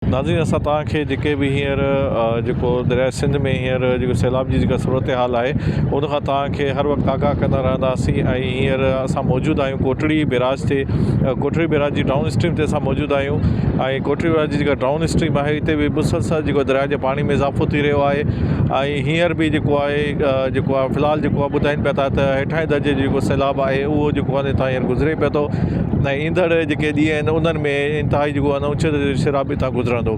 ناظرين اسان توهان کي جيڪي به هينئر جيڪو درياء سنڌ ۾ هينئر جيڪو سيلاب جي جيڪا صورتحال آهي ان کان توهان کي هر وقت آگاهه ڪندا رهنداسين ۽ هينئر اسان موجود آهيون ڪوٽڙي بيراج تي ڪوٽڙي بيراج جي ڊائون اسٽريم تي اسان موجود آهيون ۽ ڪوٽڙي بيراج جي جيڪا ڊائون اسٽريم آهي اتي به مسلسل جيڪو درياء جي پاڻي ۾ اضافو ٿي رهيو آهي ۽ هينئر به جيڪو آهي جيڪو آهي في الحال جيڪو آهي ٻڌائين پيا ٿا ته هيٺاهين درجي جي جيڪو سيلاب آهي اهو جيڪو آهي تان هينئر گذري پيو ٿو ۽ ايندڙ جيڪي ڏينهن آهن انهن ۾ انتهائي جيڪو آهي اوچتو درجي شراب اتان گذرندو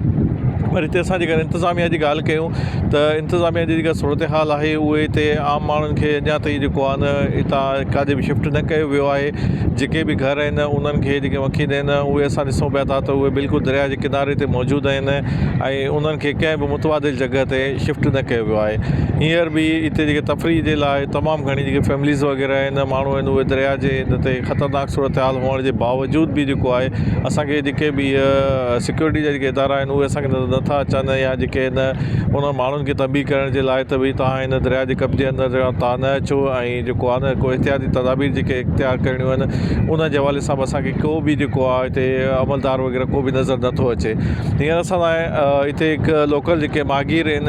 وري هتي اسان جيڪر انتظاميا جي ڳالهه ڪيون ته انتظاميا جي جيڪا صورتحال آهي اهي هتي عام ماڻهن کي اڃا تائين جيڪو آهي نه هتان ڪاڏي به شفٽ نه ڪيو ويو آهي جيڪي به گهر آهن انهن کي جيڪي وڪيل آهن اهي اسان ڏسون پيا ته اهي بلڪل دريا جي ڪناري تي موجود آهن ۽ انهن کي ڪنهن به متبادل جڳهه تي شفٽ نه ڪيو ويو آهي هينئر به هتي جيڪي تفريح جي لاء تمام گهڻي جيڪي فيمليز وغيره آهن ماڻهو آهن اهي دريا جي هن تي خطرناڪ صورتحال هئڻ ان جي باوجود به جيڪو آهي اسان کي جيڪي به هي سيڪيورٽي جا جيڪي ادارا آهن اهي اسان کي نظر نٿا اچن يا جيڪي هن انهن ماڻهن کي تنبيهه ڪرڻ جي لاء ته ڀئي تهان هن درياء جي قبضي اندر جا تهان نه اچو ۽ جيڪو آهي نه ڪو احتياطي تدابير جيڪي اختيار ڪرڻيون آهن ان جي حوالي سان به اسان کي ڪو به جيڪو آهي هتي عملدار وغيره ڪو به نظر نٿو اچي هينئر اسان لاء هتي هڪ لوڪل جيڪي ماهگير آهن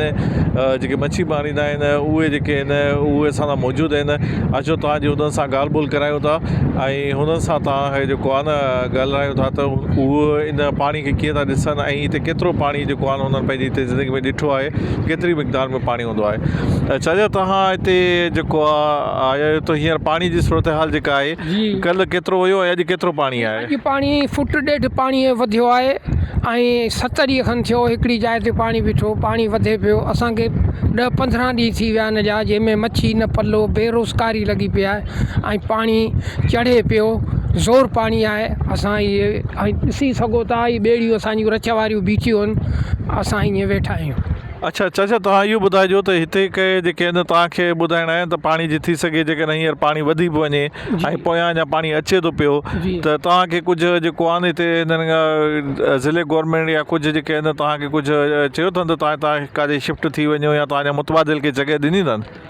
جيڪي مڇي ماريندا آهن اهي جيڪي آهن اهي اسان لاء موجود آهن اچو تهان جي انهن سان ڳالهه ٻولهه ڪرايون ٿا ۽ ۽ هنن سان توهان هي جيڪو آهي نه ڳالهرايو ٿا ته اهو ان پاڻي کي ڪيئن ٿا ڏسن ۽ هتي ڪيترو پاڻي جيڪو آهي هنن پنهنجي هتي زندگي ۾ ڏٺو آهي ڪيتري مقدار ۾ پاڻي هوندو آهي ۽ ڇا جا توهان هتي جيڪو آهي آيا آهيو هينئر پاڻي جي صورت حال جيڪا آهي جي ڪلهه ڪيترو هيو ۽ اڄ ڪيترو پاڻي آهي؟ اڄ پاڻي فوٽ ڏيڍ پاڻي وڌيو آهي ۽ ست ڏينهن کن ٿيو هڪڙي جاء تي پاڻي بيٺو پاڻي وڌي پيو اسانکي ڏهه پندرهن ڏينهن ٿي ويا آهن ان جا جنهن ۾ مڇي نه پلو بي روزگاري لڳي پئي آهي ۽ پاڻي چڙهي پيو زور پاڻي آهي اسان اهي ۽ ڏسي سگهو ٿا اهي ٻيڙيون اسانجيون رچ واريون بيٺيون آهن اسان ائين ويٺا آهيون اڇا چاچا توهان اهو ٻڌائجو ته هتي ڪي جيڪي آهن توهانکي ٻڌائڻا آهن ته پاڻي جي ٿي سگهي جيڪڏهن هينئر پاڻي وڌي به وڃي ۽ پويان اڃا پاڻي اچي ٿو پيو ته توهانکي ڪجهه جيڪو آهن هتي هنن ضلعي گورنمينٽ يا ڪجهه جيڪي آهن توهانکي ڪجهه چيو اٿن ته توهان هتان ڪاڏي شفٽ ٿي وڃو يا توهان جا متبادل ڪي جڳهه ڏني اٿن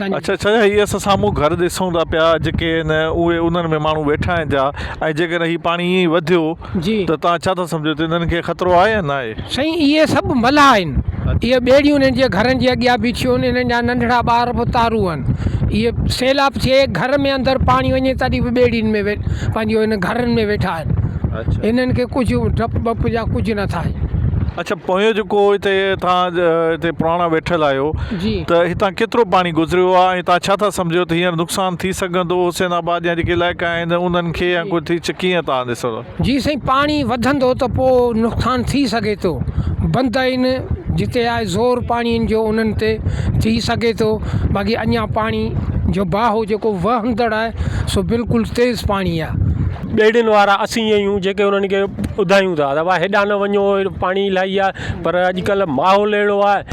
اڇا اڇا هي اسان سامهون گهر ڏسون ٿا پيا جيڪي آهن اهي انهن ۾ ماڻهو ويٺا آهن جا ۽ جيڪڏهن هي پاڻي ائين ئي وڌيو جي ته توهان ڇا ٿا سمجهو ته انهن کي خطرو آهي يا ناهي؟ سائين اهي سڀ ملاح آهن اهي ٻيڙيون انهن جي گهرن جي اڳيان بيٺيون آهن انهن جا ننڍڙا ٻار به اتارو آهن اهي سيلاب ٿئي گهر ۾ اندر پاڻي وڃي تڏهن به ٻيڙين ۾ پنهنجو ان گهرن ۾ ويٺا آهن اڇا انهن کي ڪجهه ڊپ وپ جا ڪجهه نه ٿا آهن. اڇا پويون جيڪو هتي توهان هتي پراڻا ويٺل آهيو ته هتان ڪيترو پاڻي گذريو آهي ۽ توهان ڇا ٿا سمجهو ته هينئر نقصان ٿي سگهندو حسين آباد جا جيڪي علائقا آهن انهن کي يا ڪجهه ٿي ڪيئن توهان ڏسو ٿا. جي سائين پاڻي وڌندو ته پوء نقصان ٿي سگهي ٿو بند آهن جتي آهي زور پاڻي جو انهن تي ٿي سگهي ٿو باقي اڃان پاڻي جو باهو جيڪو وهندڙ آهي سو بلڪل تيز پاڻي آهي. ٻيڙين وارا اسين ئي آهيون جيڪي انهن کي ٻڌايون ٿا ته ڀاء هيڏانهن نه وڃو پاڻي الاهي آهي پر اڄڪلهه ماحول اهڙو آهي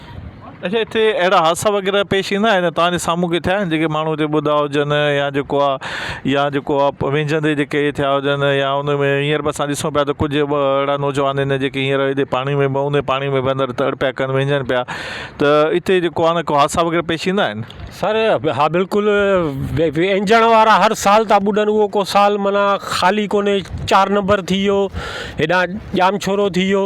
اچا اتي اهڙا حادثا وغيره پيش ايندا آهن توهان جي سامهون ڪي ٿيا آهن جيڪي ماڻهو اتي ٻڌا هجن يا جيڪو آ يا جيڪو آ ويجهندي جيڪي اهي ٿيا هجن يا ان ۾ هينئر به اسان ڏسون پيا ته ڪجهه ٻه اهڙا نوجوان آهن جيڪي هينئر هتي پاڻي ۾ بئون ۾ پاڻي ۾ به اندر تڙ پيا ڪن ويجهن پيا ته اتي جيڪو آ نه ڪو حادثا وغيره پيش ايندا آهن. سر ها بلڪل ويجهڻ وارا هر سال ٿا ٻڏن اهو ڪو سال معنيٰ خالي ڪونهي چار نمبر ٿي ويو هيڏانهن ڄامشورو ٿي ويو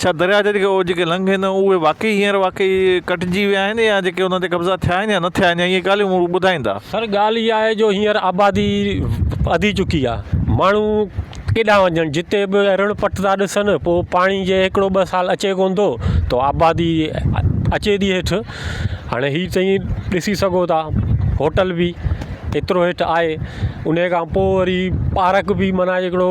ڇا درياهه جن کي اوجهه کي لنگهين اهي واقعي هينئر واقعي ڪٽجي ويا آهن يا جيڪي انهن تي قبضا ٿيا آهن يا نه ٿيا آهن يا اهي ڳالهيون مون ٻڌائيندا. سر ڳالهه اها آهي جو هينئر آبادي وڌي چڪي آهي ماڻهو ڪيڏانهن وڃن جتي به رڻ پٽ ٿا ڏسن پوء پاڻي جي هڪڙو ٻه سال اچي ڪون ٿو تو آبادي اچي ٿي هيٺ هاڻي هي تئي ڏسي سگهو ٿا هوٽل به ايترو هيٺ آهي انهي کان پوء وري پارڪ به معنيٰ هڪڙو